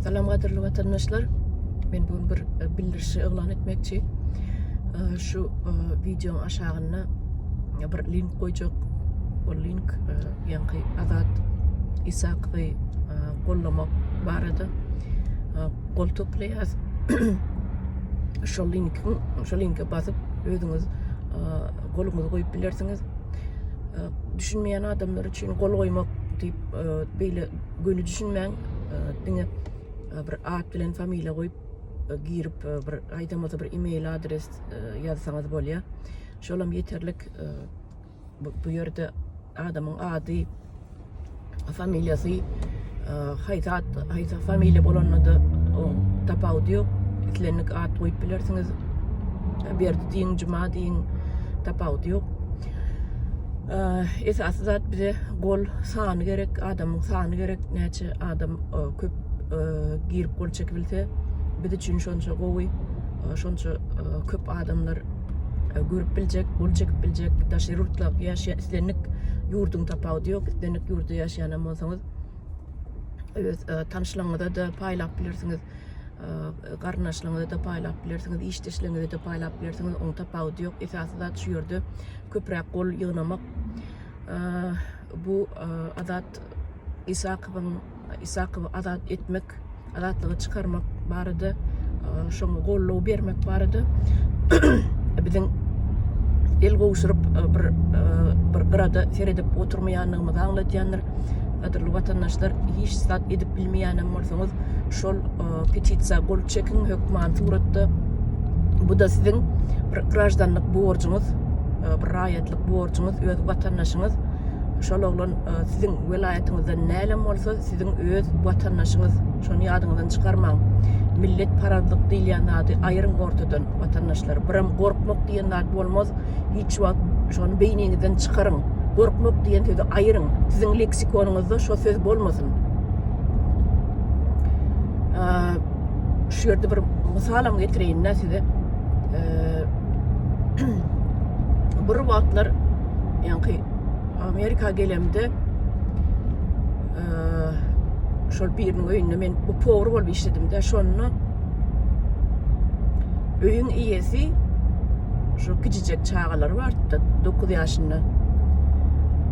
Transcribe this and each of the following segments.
Salam gadyrly watandaşlar. Men bu bir e, bildirişi yglan etmekçi. E, şu e, wideoň aşagynda bir link goýjak. O link ýaňky Azat Isakowy gollamak barada gol toplaýas. Şu linki, şu linke basyp özüňiz goluňyzy goýup bilersiňiz. Düşünmeýän adamlar üçin gol goýmak diýip beýle göni düşünmäň e, diňe e, bir at bilen familiýa goýup e, girip bir aýdamada bir e-mail adres ýazsaňyz bolýar şol hem ýeterlik bu ýerde adamyň ady familiýasy haýsy at haýsy familiýa bolanda da tapawudy ýok islendik at goýup bilersiňiz berdi diýiň juma diýiň tapawudy ýok Esasy zat bize gol sany gerek, adamyň sany gerek. Näçe adam köp girip gol çekip bilse, biz üçin şonça gowy. Şonça köp adamlar görüp biljek, gol çekip biljek. Daşary ýurtda ýaşaýan islendik ýurduň tapawudy ýok. Islendik ýurtda ýaşaýan hem bolsaňyz, öz tanyşlaryňyza-da paýlap bilersiňiz. garyndaşlaryňyza da paýlap bilersiňiz, işdeşleriňize de paýlap bilersiňiz. Onuň tapawudy ýok. Esasy zat şu ýerde köpräk gol ýygnamak. Bu Azat Isakowyň Isakowy azat etmek, azatlyga çykarmak barada şoňa golluw bermek barada biziň el gowşuryp bir bir gyrada seredip oturmaýanlygymyzy aňladýandyr. Gadyrly watandaşlar, hiç zat edip bilmeýänem bolsaňyz, şol petisiýa gol çekiň hökman suratda bu da siziň bir graždanlyk borjuňyz e, bir raýatlyk borjuňyz öz watandaşyňyz şol oglan e, siziň welaýatyňyzdan nälim bolsa siziň öz watandaşyňyz şony ýadyňyzdan çykarmaň millet parazlyk diýilýän zady aýryň ortadan watandaşlar biram gorkmak diýen zat bolmaz hiç wagt şony beýniňizden çykaryň gorkmak diýen sözi aýryň siziň leksikonyňyzda şo söz bolmasyn şu ýerde bir mysalam getireýin-dä size. Bir wagtlar ýaňky Amerika gelemde şol biriniň öýünde men bu powar bolup işledim-de, şonda öýüň eýesi şu kiçijek çagalary bardy-da, 9 ýaşynda.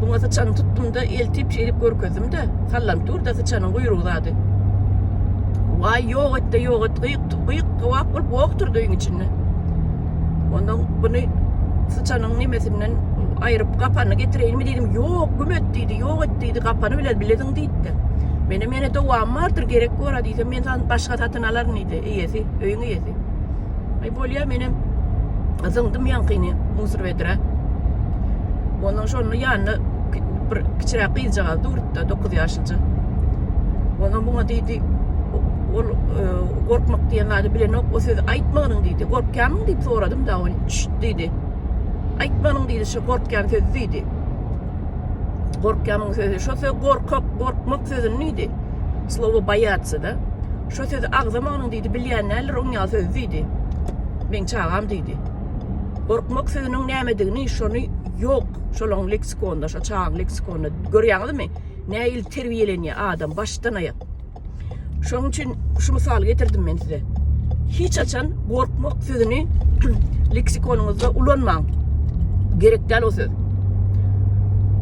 Muňa syçanyň tutdum-da, eltip şeýdip görkezdim-de, sallanp dur-da syçanyň guýrugy zady. Waý, ýok et-de, ýok et, gyýk, gyýk, towak bolup wok durdy öýüň içinde. Onda buny syçanyň nemesinden aýryp, gapanyny getireýinmi diýdim, ýok, güm et diýdi, ýok et diýdi, gapany bilen bilediň diýdi-de. Menem ýene dowamy bardyr, gerek bor-a diýsem, men saňa başga satyn alaryn diýdi, eýesi, öýüň eýesi. Ay bolýa menem zyňdym ýaňkyny musor bedre. Ondan şonda ýanyna bir kiçiräk gyzjagaz durupda 9 ýaşlyja. Ondan muňa diýdi, ol e, gorkmak diýen zady bilenok, o sözi aýtmanyň diýdi. Gorkýamyň diýip soradym da ol çüt diýdi. Aýtmanyň diýdi, şu gorkýan söz diýdi. Gorkýamyň sözi, şu söz gorkak, gorkmak sözüni diýdi. Slowo boýatsy da. Şo sözi agzamagynyň diýdi, bilýän däldir, oň ýaly sözi diýdi. Meň çagam diýdi. Gorkmak sözüniň nämedigini şony ýok şolaň leksikonda, şo çagaň leksikonda. Görýäňizmi? Nähili terbiýelenýär adam başdan aýak. Şoň üçin şu mysaly getirdim men size. Hiç haçan gorkmak sözüni leksikonyňyzda ulanmaň. Gerek däl o söz.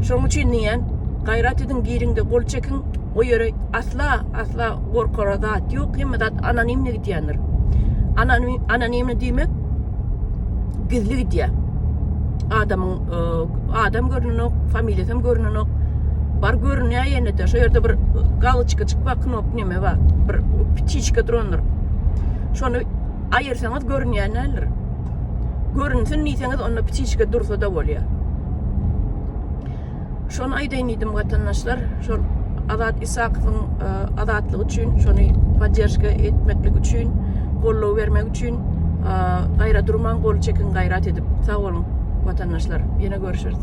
Şoň üçin diýýän, gaýrat ediň giriňde gol çekiň, o ýere asla asla gorkara zat ýok hemme zat anonimne gidýändir anonimne diýmek gizli gidýär adamyň e, adam görnenok familiýasy hem görnenok bar görünýär ýene de şu ýerde bir galoçka çykma knop neme bar bir ptiçka durandyr şony aýyrsaňyz görünýän däldir görünsin diýseňiz onda ptiçka dursa da bolýar Şony aýdaýyn diýdim watandaşlar, şol Azat Isakowyň e, azatlyk üçin, şony podderjka etmeklik üçin, goldaw bermek üçin e, gaýra durmaň, gol çekin gaýrat edip. Sag boluň watandaşlar. Ýene görüşeris.